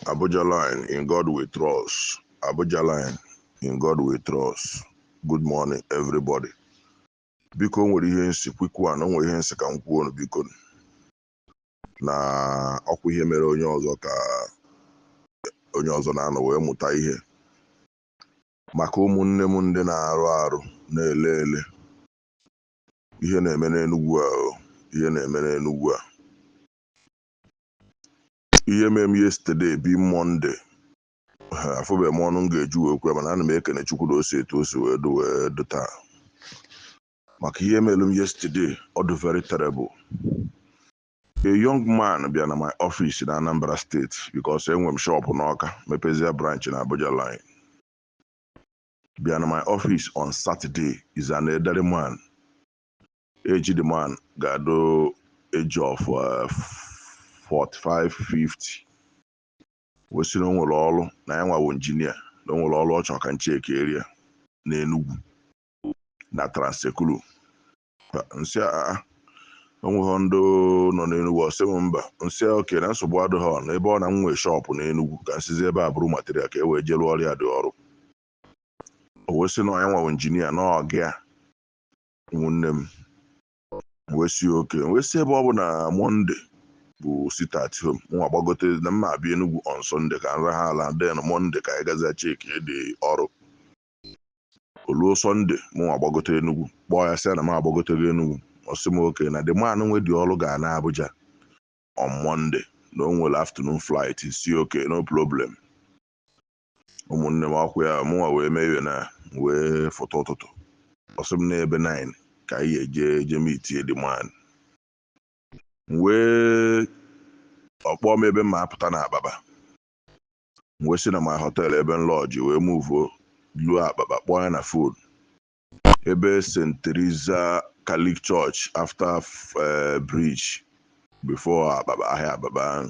Abuja line in God we trust. Abuja line in God we trust. Good morning everybody. Biko o nwere ihe m sị kwikwu a na o nwere ihe m sị ka m kwuo unu biko nụ. na ọkwa ihe mere onye ọzọ ka onye ọzọ na-anọ wee mụta ihe maka ụmụnne m ndị na-arụ arụ na-ele ele ihe na-eme n'Enugwu a o, ihe na-eme n'Enugwu a ihe mere m yesterday bụ Monday afụbeghị m ọnụ m ga-eji wee kwuo ya mana ana m ekene Chukwu na o si etu o si wee dụ wee dụ taa maka ihe mere m yesterday ọ dị very terrible a young man bịa na my office na Anambra State because enwe m shop n'Ọka mepezie branch na Abuja line bịa na my office on Saturday is an elderly man Age the man ga-adụ age of uh, 45 50 wee sị na o nwere ọrụ na ya nwa wụ engineer na o nwere ọrụ ọ chọrọ ka m chekiere ya n'Enugwu na Trans-Ekulu m sị ya a o nweghị ndị nọ n'Enugwu ọ sị m mba m sị ya okay na nsogbu adịghị ọ na ebe ọ na m nwee shop n'Enugwu ka m sizi ebe a buru material ka e wee jee rụọrọ ya the ọrụ o wee sị na ya nwa wụ engineer na ọga ya ụmụnne m wee sị okay wee sị ebe ọ bụ na Monday bụ sit at home mụnwa gbagote na m ma-abịa Enugwu on Sunday ka m rahụ ụla then Monday ka anyị gazie chekie the ọrụ o luo Sunday mụnwa gbagote Enugwu kpọọ ya sị ya na m agbagotego Enugwu ọ sị m okay na the man nwe the ọrụ ga-ana Abuja on Monday na o nwere afternoon flight sị okay no problem ụmụnne m ọkwa ya mụnwa wee mee iwe na wee fụta ụtụtụ ọ sị m na ebe 9 ka anyị ga-eje jee meetie the man m wee ọ kpọọ m ebe m ma-apụta na Abakpa m wee si na my hotel ebe m lodge wee muvuo luo Abakpa kpọọ ya na phone ebe St Theresa Catholic Church after eh, bridge before Abakpa ahịa Abakpa ahụ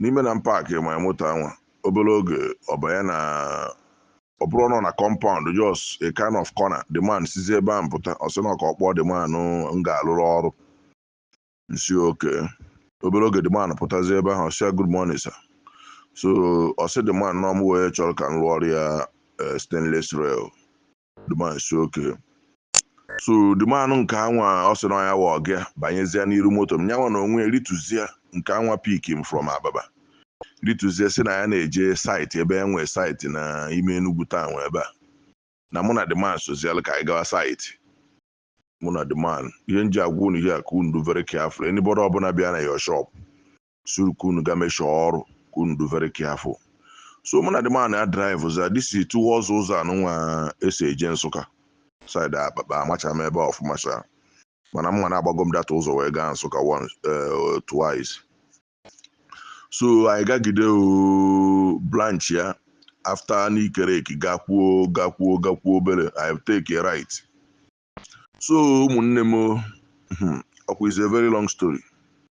n'ime na m paakị my moto anwa obere oge ọ banye na ọ bụrọ ụnọ na compound just a kind of corner the man sizi ebe ahụ pụta ọ sị na ọ ka ọ kpọọ the man m ga-alụrụ ọrụ m sị okay obere oge the man pụtazi ebe ahụ ọ sị ya good morning sir so ọ sị the man na ọ mụwa chọrọ ka m lụọrụ ya eh, stainless rail the man sị okay so the man nke anwa ọ sị na ya wụ ọga ya banyezie n'iru moto m yanwa n'onwe ya rituzie nke anwa pick m from Abakpa rituzie sị na ya na-eje site ebe ya nwe site na ime Enugu town ebe a na mụ na the man sozialụ ka anyị gawa site mụ na the man ihe m ji agwa unu ihe a ka unu dụ very careful anybody ọbụla bịa na your shop suru ka unu ga meshọ ọrụ ka unu dụ very careful so mụ na the man a drive zia this thing towards ụzọ anụnwa esi eje Nsụka side Abakpa amacha m ebe ọfụma sha mana m ma na agbago m that ụzọ wee gaa Nsụka once eh, twice so anyị gagide oo, branchịa after Nike Lake gakwuo gakwuo gakwuo obere anyị take a right so ụmụnne m o, hmm, ọ kwa is a very long story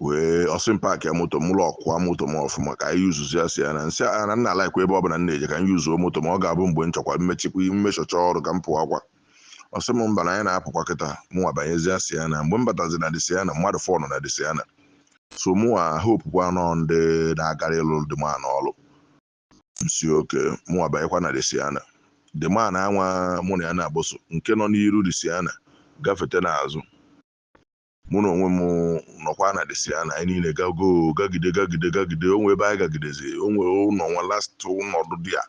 wee ọ sị m paakịa moto m lọọkụa moto m ọfụma ka anyị yuzuzia Sienna m sị ya na nna alaikwa ebe ọbụla m na-eje ka m yuzuo moto m ọ ga-abụ mgbe m chọkwa m mechakwa m mechacha ọrụ ka m pụwakwa ọ sị m mba na anyị na-apụkwa kịta mụnwa banyezie Sienna mgbe m batazi na the Sienna mmadụ four nọ na the Sienna so mụnwa hopekwa na ọ ndị na-agara ịlụ the man ọrụ m sị okay mụnwa banyekwa na the Sienna the man anwa mụ na ya na-agboso nke nọ n'iru the Sienna gafete n'azụ mụ na onwe m nọkwa na the Sienna anyị niile gago gagide gagide gagide o nwee ebe anyị gagidezi o nwee ụlọ nwa last ụlọ dụ there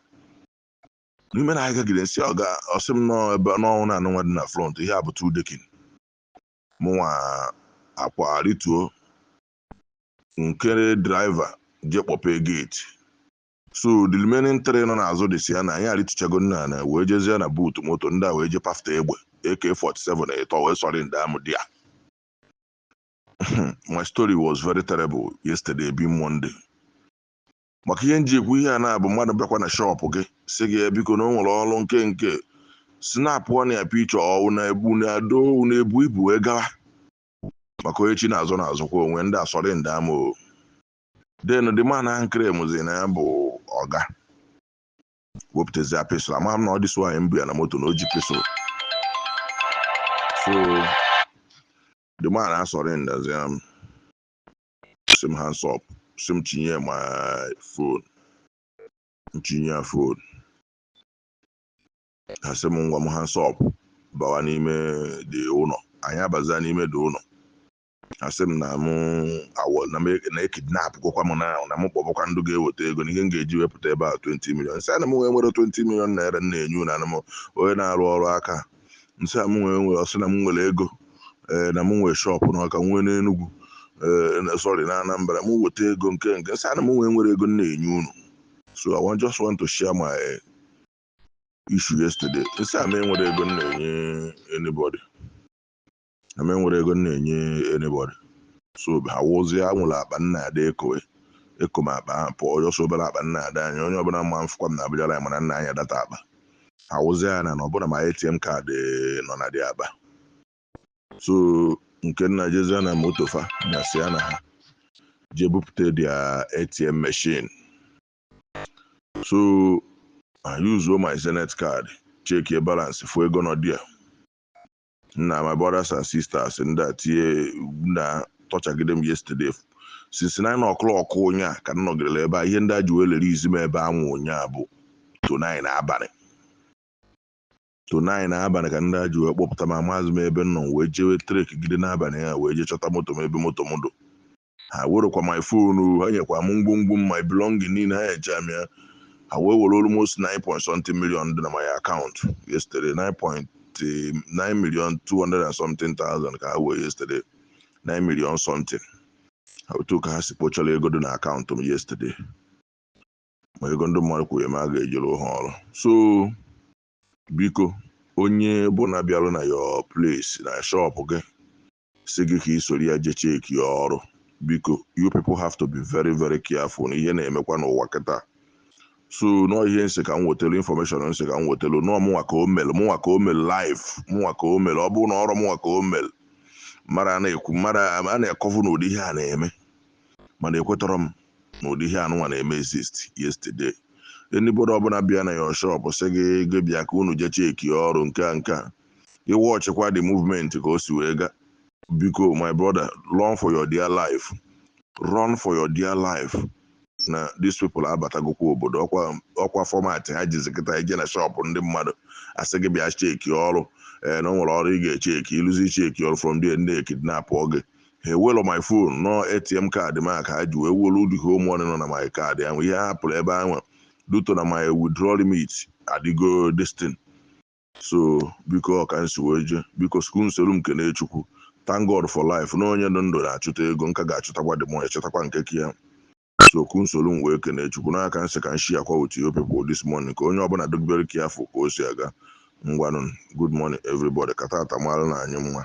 n'ime na anyị gagide m sị ọga ọ sị m nọ ebe na ọ wụ ụnọ anụnwa dị na front ihe a bụ two decking mụnwa akwa rịtuo nkere draiva je kpọpee geeti so the remaining three nọ n'azụ the Sienna anyị arịtụchago nna ana wee jezie na buutu moto ndị a wee je pafta egbe AK47 ịtọ wee sọrọndịa mụ there my story was very terrible yesterday being Monday maka ihe m ji ekwu ihe a na-abụ mmadụ bịakwa na shọpụ gị sị gị ya biko na o nwere ọrụ nke nke sinapụ ọ na-epe iche ọwụ na ebu na ado na ebu ibu wee gawa maka onye chi na-azọ na-azọkwa onwe ndị asọrọndịa mụ o then the man ahụ claimzi na ya bụ ọga wepụtazia pistol amaghị m na ọ dị so anyị bịa na moto na o ji pistol so the man asọrọndịazia m sị m hands up sị m chinye my fon m chinye ya fon ha sị m ngwa m hands up bawa n'ime the ụlọ anyị abazia n'ime the ụlọ ha sị m na m awọ na m e- na e-kidnapgokwa m na na m kpọbakwa ndị ga-eweta ego na ihe m ga-eji wee pụta ebe a 20 million m sị ha na mụ enwerọ 20 million naira m na-enye unu na m onye na-arụ ọrụ aka m sị ha mụ enwerọ ọ sị na m nwere ego ee na m nwee shọpụ na Ọka nwee n'Enugwu ee na- sorry na Anambra m weta ego nke nke m sị ha na mụ enwerọ ego m na-enye unu so i want, just want to share my issue yesterday m sị ha mụ enwerọ ego m na-enye anybody Eme nwere ego m na-enye anybody. So ha wụzie a nwere akpa m na-adị ekowe. Eko m akpa ahụ pụọ ọjọọ so obere akpa m na-adị anya. Onye ọbụna ma m fụkwa m na Abuja line ma na m na-anya that akpa. Ha wụzie ya na na ọbụna my ATM card nọ na the akpa. So nke nna jezie na moto fa na si ya na ha jee bupụta their ATM machine. So I use my Zenith card checkie balance fụ ego nọ there. nna my brothers and sisters ndị a tinye na tọchagide m yesterday since nine o'clock ụnyaa ka m nọgidere ebe a ihe ndị a ji wee release m ebe anwụ ụnyaa bụ to nine n'abalị to nine n'abalị ka ndị a ji wee kpọpụta m amazi m ebe m nọ m wee jewe trek gide n'abalị ya wee jee chọta moto m ebe moto m dụ Ha werokwa my phone o, ha nyekwa m ngwongwo m, my belonging niile, ha nyechaa m ya. Ha wee were almost nine point something million dị na my account yesterday, nine point nine million two hundred and something thousand ka ha wee yesterday, nine million something. Otu ka ha si kpochara ego dị na account m yesterday. Ma ego ndị mmadụ kwụnyere m a ga-ejere ha ọrụ. So biko onye ọbụna bịara na your place na shop gị sị gị ka i soro ya je cheki ya ọrụ biko you people have to be very very careful na ihe na-emekwa n'ụwa kịta so na ọọ ihe m sị ka m wetelu information m sị ka m wetelu unu ọọ mụnwa ka o melu mụnwa ka o melu live mụnwa ka o melu ọ bụrọ na ọrụ mụnwa ka o melu mmadụ a na-ekwu mmadụ a na-akọvu na ụdị ihe a na-eme mana ekwetọrọ m na ụdị ihe anụnwa na-eme exist yesterday anybody ọbụna bịa na your shop sị gị gị bịa ka unu je cheki ọrụ nke a nke a ị watchikwa the movement ka o si wee ga biko my brother run for your dear life run for your dear life na these people abatagokwa obodo ọkwa ọkwa format ha jizi kịta ije na shop ndị mmadụ a sị gị bịa cheki ọrụ ee na o nwere ọrụ ị ga-echeki i luzie cheki ọrụ from there ndị kidnap gị ha ewelọ my phone na ọ ATM card m a ka ha ji wee welu the whole money nọ na my card ahụ ihe ha pụrụ ebe ahụ due to na my withdrawal limit adịgo this thing so biko ọ ka m si wee je biko so ka unu soro m kene chukwu thank god for life na onye nọ ndụ na-achụta ego m ka ga-achụtakwa the more achụtakwa nke ka ya so ka unu soro m wee kene chukwu na ya ka m sị ka m sharekwa with you people this morning ka onye ọbụna dụ very careful ka o si aga ngwanụ good morning everybody ka taata maara anyị mma